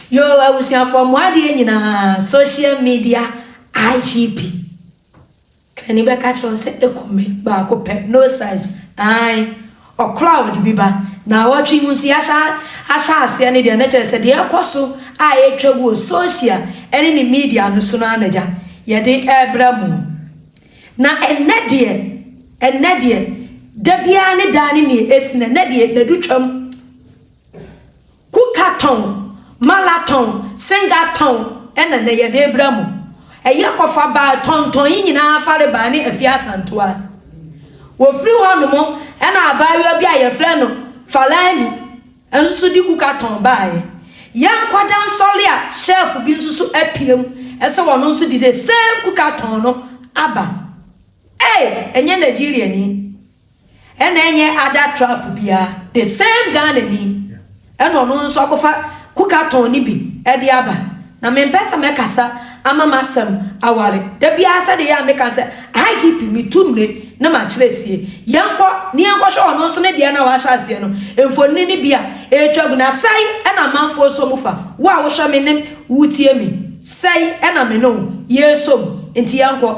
Yoo abusuafoɔ mo adeɛ nyinaa social media IGP krani bɛka kyerɛ wo sɛ ɛku me baako pɛ no size ae ɔkorɔ a ɔde bi ba naawɔtwe mu nso yɛahyɛ ahyɛ aseɛ no deɛ na kyerɛ sɛ deɛ ɛkɔ so a ɛtwa gu wɔ social ɛne ne media no so no ara na gya yɛde ɛbra mu na ɛnnɛ deɛ ɛnnɛ deɛ da biara ne daa ne neɛ ɛsi na ɛnnɛ deɛ nadu twam Kuka tɔn, mala tɔn, senga tɔn na nnɛyɛdeɛ bra mu. Ɛyɛ kɔfa baa tɔntɔn yi nyinaa fare baa ne Afie Asantewa. Wɔfiri hɔ nom na abaayewa bi a yɛfrɛ no Falani nso so de kuka tɔn baaɛ. Yɛn nkwadaa nsɔre a shelf bi nso so apiam sɛ wɔn nso de the same kuka tɔn no aba. Ei! Ɛnyɛ Nigeriani. ɛna ɛnyɛ ada trap biaa the same Ghana ni ɛna ɔno nso akɔfa kuka tɔn no bi ɛde aba na mempɛ sɛ mɛkasa ama masɛm aware dabiaa sɛde ɛyɛ a meka sɛ IGP metu mmire na makyerɛ sie yɛnkɔ na yɛnkɔhwɛ ɔno nso ne deɛ no a wahyɛ aseɛ no mfonini no bi a ɛretwa gu na sɛi ɛna amanfoɔ sɔ mu fa wo a wohwɛ me ne wotie me sɛi ɛna me ne wo yɛsɔ mu nti yɛnkɔ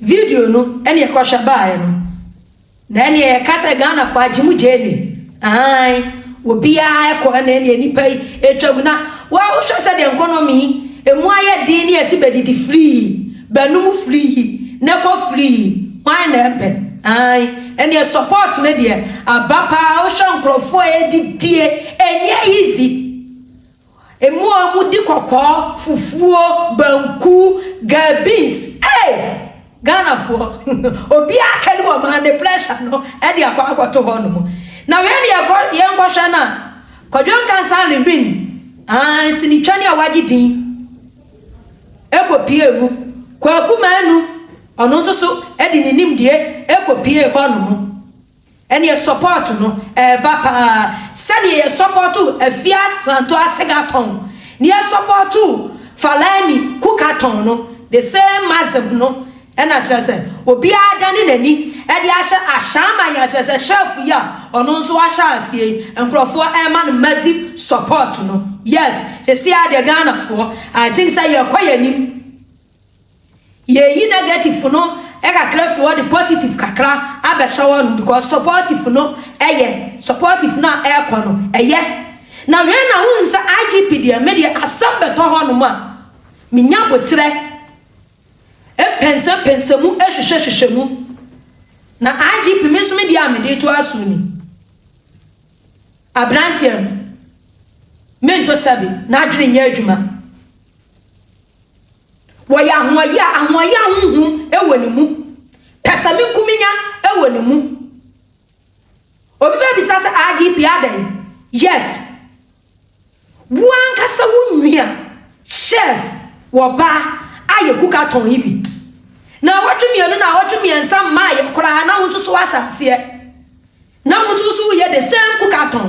Video no ɛneɛ kɔhwɛ baeɛ no na ɛneɛ yɛka sɛ Ghanafoɔ agye mu gyeene aane obiara ɛkɔ ɛna ɛneɛ nipa yi ɛtwa gu na wa wo hwɛ sɛdeɛ nkɔnɔmi yi ɛmu ayɛ den ne yɛse bɛdidi firii bɛnom firii na kɔ firii hwan na ɛmpɛ aane ɛneɛ support no deɛ aba paa wo hwɛ nkorɔfoɔ a ɛdidie ɛnyɛ easy. Mmoa mu di kɔkɔɔ, fufuo, banku, gal beans ei! Ghanafoɔ obiara kani wɔ man ne pressure no de akɔ akɔto hɔ nom. Na wei deɛ kɔ yɛn kɔ hwɛ no a Kwadwo Nkansah Levine aah nsinitwani a wagye din ɛkɔ pie mu. Kwaku Manu ɔno nso so de ne nimdeɛ ɛkɔ pie hɔ nom. Ɛneɛ support no ɛɛba paa sɛdeɛ yɛ supportoo Afia Sranto Asega tɔn ne yɛ supportoo Falani Kuka tɔn no the same massive no ɛna kyerɛ sɛ obiara adane n'ani de ahyɛ Ashaiman yi a kyerɛ sɛ chef yi a ɔno nso wahyɛ aseɛ yi nkorɔfoɔ ɛɛma no massive support no yes seisei ara deɛ Ghanafoɔ I think sɛ yɛɛkɔ yɛn anim Yeyi negative no kakra firi hɔ de positive kakra abɛhyɛ hɔ nom because supportive no yɛ supportive no a ɛrekɔ no ɛyɛ. Na wei na wohu sɛ IGP deɛ me deɛ asɛm bɛtɔ hɔ nom a menya aboterɛ mpɛnsɛ pɛnsɛ mu hwehwɛ hwehwɛ mu. Na IGP me nso me deɛ a mede reto aso ni. Abranteɛ no mento sɛbe n'adwene nyɛ adwuma. Wɔyɛ ahoɔyaa, ahoɔyaa honhom wɔ ne mu. Pɛsɛmenkominya wɔ ne mu. Obi bɛbisa sɛ, IGP adɛn? Yes. Wo ankasa wo nua, chef, wɔ ba a yɛ kuka tɔn yi bi. Naawɔtwe mmienu, naawɔtwe mmiɛnsa mmaeɛ koraa na wo nso so woahyɛ aseɛ. Na wo nso so woyɛ the same kuka tɔn.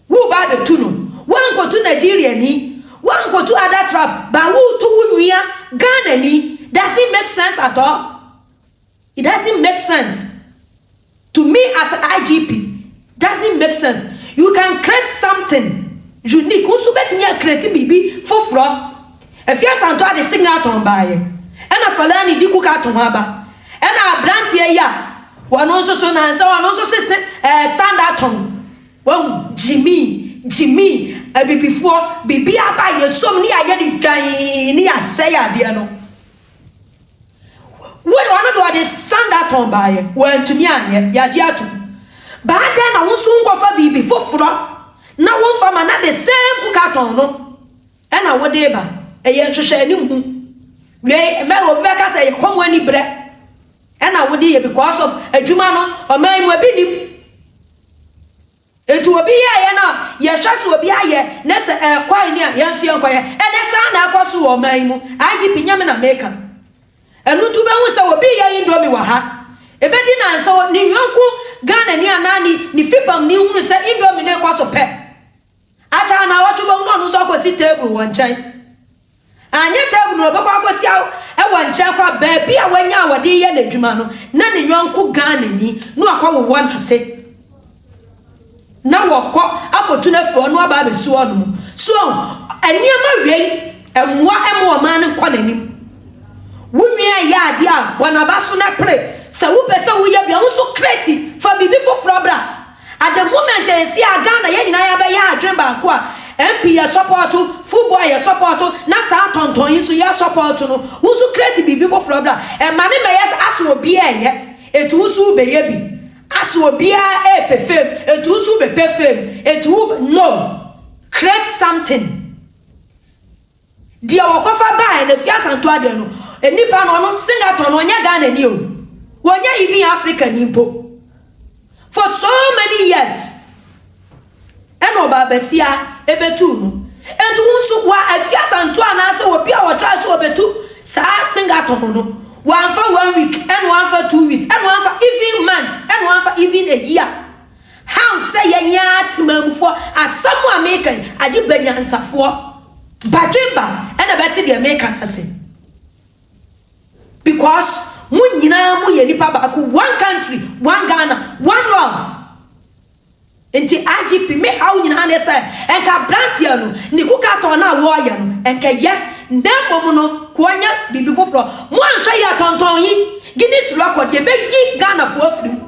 Wo ba abɛtu no. Woankɔtu Nigeriani, woankɔtu other tribe but woretu wo nua Ghanani, doesn't make sense at all. It doesn't make sense to me as a IGP, doesn't make sense. You can create something unique, wo nso wobɛtumi a create biribi foforɔ. Afia Asantewaa de Singleton baeɛ, ɛna Falani de Cook ato ho aba, ɛna aberanteɛ yi a ɔno nso so na sɛ ɔno nso se se ɛɛ Standerton. Wahu, gyimii, gyimii, abibifoɔ, biribi aba a yɛsuom ne yɛayɛ de dwan ne yɛasɛe adeɛ no. Wo ɔno deɛ ɔde sandaton baeɛ, wantumi anyɛ, yɛagye atom. Ba adɛn na wo nso wonkɔfa biribi foforɔ na womfa ma na the same kukaton no ɛna wode reba? Ɛyɛ nhwehwɛanimu. Wei, mɛrɛ obi bɛka sɛ ɛyɛ kɔm ani berɛ. Ɛna wode yɛ because of adwuma no ɔman yi mu ebi nim nti obi yɛɛyɛ no a yɛhwɛ sɛ obi ayɛ ne sɛ ɛkɔe ne a yɛn nso yɛnkɔyɛ ɛnɛ saa na ɛkɔ so wɔ ɔman yi mu IGP nyɛ me na meka ɛno nti wobɛhu sɛ obi yɛ indomie wɔ ha ebedi nansa ne yɔnko Ghanani anaa ne ne fipamni hunu sɛ indomie no rekɔ so pɛ Akyɛ a na awɔtwe bɛhu na ɔno nso akɔsi table wɔ nkyɛn. Anyɛ table no ɔbɛkɔ akɔsi a wɔ nkyɛn kɔ a baabi a wanya a wɔde reyɛ n'adwuma no na ne yɔnko Ghanani no akɔwowɔ n'ase na wɔkɔ akɔtu no afiri hɔ na waba abɛsi hɔ nom. So ɔho? Nneɛma wei mmoa mma ɔman no nkɔ n'anim. Wo nua reyɛ adeɛ a bɔ n'aba so na pere. Sɛ wopɛ sɛ woyɛ bi a wo nso create, fa biribi foforɔ bra. At the moment ɛnsi a Ghana yɛn nyinaa yɛabɛyɛ adwene baako a MP yɛ support, football yɛ support na saa tɔntɔn yi nso yɛ support no, wo nso create biribi foforɔ bra, ɛma no mmɛyɛ sɛ asɛ obiara ɛyɛ ɛnti wo nso wo bɛyɛ bi, asɛ obiara ɛɛpɛ fame ɛnti wo nso wo bɛpɛ fame ɛnti wo no, create something. Deɛ wɔkɔfa baeɛ no ɛfiri Asantewaa deɛ no nnipa no ɔno Singapore no ɔnyɛ Ghanani o ɔnyɛ even Africani mpo for so many years ɛna ɔbaa basia ɛbɛtuu no nti wo nso wa ɛfiri Asantewaa anaasɛ obi a wɔtry sɛ ɔbɛtu saa Singapore no wamfa one week ɛna wamfa two weeks ɛna wamfa even month ɛna wamfa even a year How sɛ yɛn ara temanmufoɔ asɛm a meka yi agye banyansafoɔ badwemba na bɛte deɛ meka no ase because mo nyinaa mo yɛ nipa baako one country one Ghana one love nti IGP me haw nyinaa ne sɛ nka abranteɛ no ne kukatɔ no a wɔɔyɛ no nka yɛ na mmom no ka ɔnyɛ biribi foforɔ mo anhwɛ yɛ tɔntɔn yi Guinness record yɛbɛyi Ghanafoɔ afiri mu.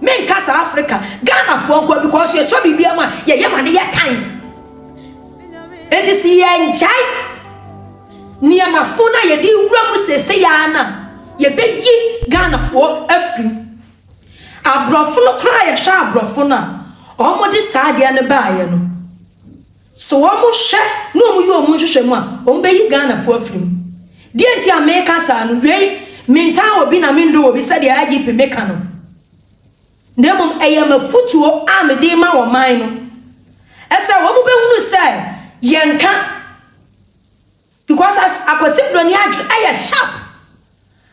Me nka saa Africa Ghana foɔ nkoa because yɛ sɔ biribiara mu a yɛ yam ade yɛ tan enti si yɛ ngyae nneɛma fo na yɛ di wura mu sese yaa na yɛ bɛ yi Ghana foɔ afiri mu abrɔfo no koraa yɛ hwɛ abrɔfo no a ɔmo de saa adeɛ no baa yɛ no So wɔhwɛ na wɔyɛ wɔn nhwehwɛmu a, wɔbɛyi Ghanafoɔ afiri mu? Deɛ nti a meka saa no, wei, mentaa obi na mendɔ obi sɛdeɛ IGP May ka no, na mmom ɛyɛ m'afotuo a mede rema ɔman no sɛ wɔbɛhunu sɛ yɛnka, because as Akwasi Broni adwene ɛyɛ sharp,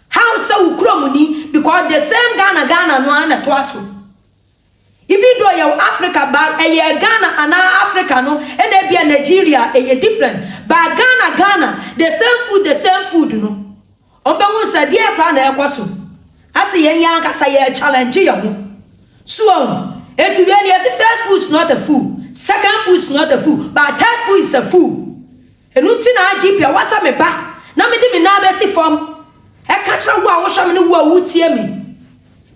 how sɛ wo kuromni, because the same Ghana Ghana no ara na ɛtoa so. Even though yɛwɔ Africa but ɛyɛ Ghana anaa Africa no ɛna ebia Nigeria ɛyɛ different but Ghana Ghana the same food the same food no wɔn bɛhunu sɛ ɛdeɛn koraa na ɛrekɔ so asɛ yɛn yɛn ankasa yɛ challenge yɛn ho so wahu enti wei deɛ yɛse first food is not a food second food is not a food but third food is a food. Ɛno nti na Argipia, woasɛ me ba, na mede me nan bɛsi fam ɛka kyerɛ wo a wohwɛ me ne wo a wotie me,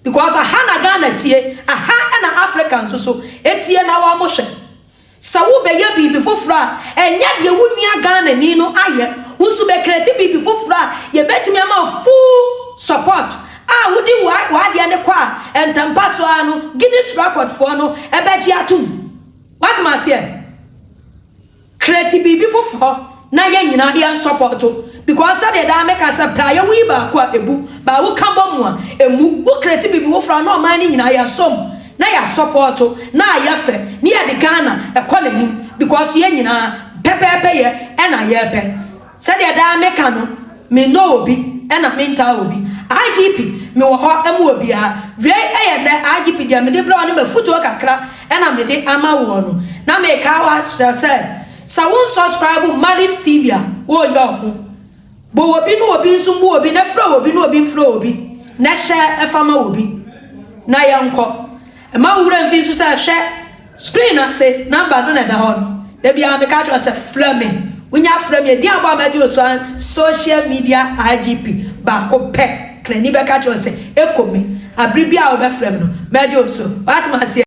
because aha na Ghana tie, aha na Africa nso so tie na wɔhwɛ. Sɛ wobɛyɛ biribi foforɔ a, ɛnyɛ deɛ wo nua Ghanani no ayɛ, wo nso bɛcreate biribi foforɔ a yɛbɛtumi ama wo full support a wode w'adeɛ no kɔ a ntɛmpa so ara no Guinness Record foɔ no bɛgye atom. Woate me aseɛ? Create biribi foforɔ na yɛn nyinaa yɛn sɔpɔto because sɛdeɛ daa me ka sɛ berɛ a yɛwo yi baako a ɛbu but wo ka bɔ mu a ɛmmu wo create biribi foforɔ a na ɔman no nyinaa yɛ som na yɛ sɔpɔto na ayɛ fɛ na yɛde Ghana ɛkɔ n'anim because yɛn nyinaa pɛpɛɛpɛ yɛ ɛna yɛpɛ Sɛdeɛ daa me ka no, me nnɔ obi ɛna me ntaa obi. IGP, me wɔ hɔ ma obiara. Wei ɛyɛ nnɛ IGP deɛ me de brɛ wo ne m'afutuo kakra ɛna me de ama woɔ no. Na me ka wa kyerɛ sɛ, sɛ wo nsɔskraibu mma this TV a, wo yɛ wo ho. Bɔ obi ne obi nso mmu obi, na frɛ obi ne obi mfrɛ obi, na hyɛ ɛfa ma obi. Na yɛnkɔ. Mma wo werɛ mfi nso sɛ hwɛ screen no ase, number no na ɛda hɔ no. Da biara meka kyerɛ wo sɛ frɛ me. Wonya frɛ me a, din a bɔ a mɛgye wo so ara ne social media IGP baako pɛ. Krani bɛka kyerɛ wo sɛ, Ekomi. Bere biara a wobɛfrɛ me no, mɛgye wo so. Woate me aseɛ?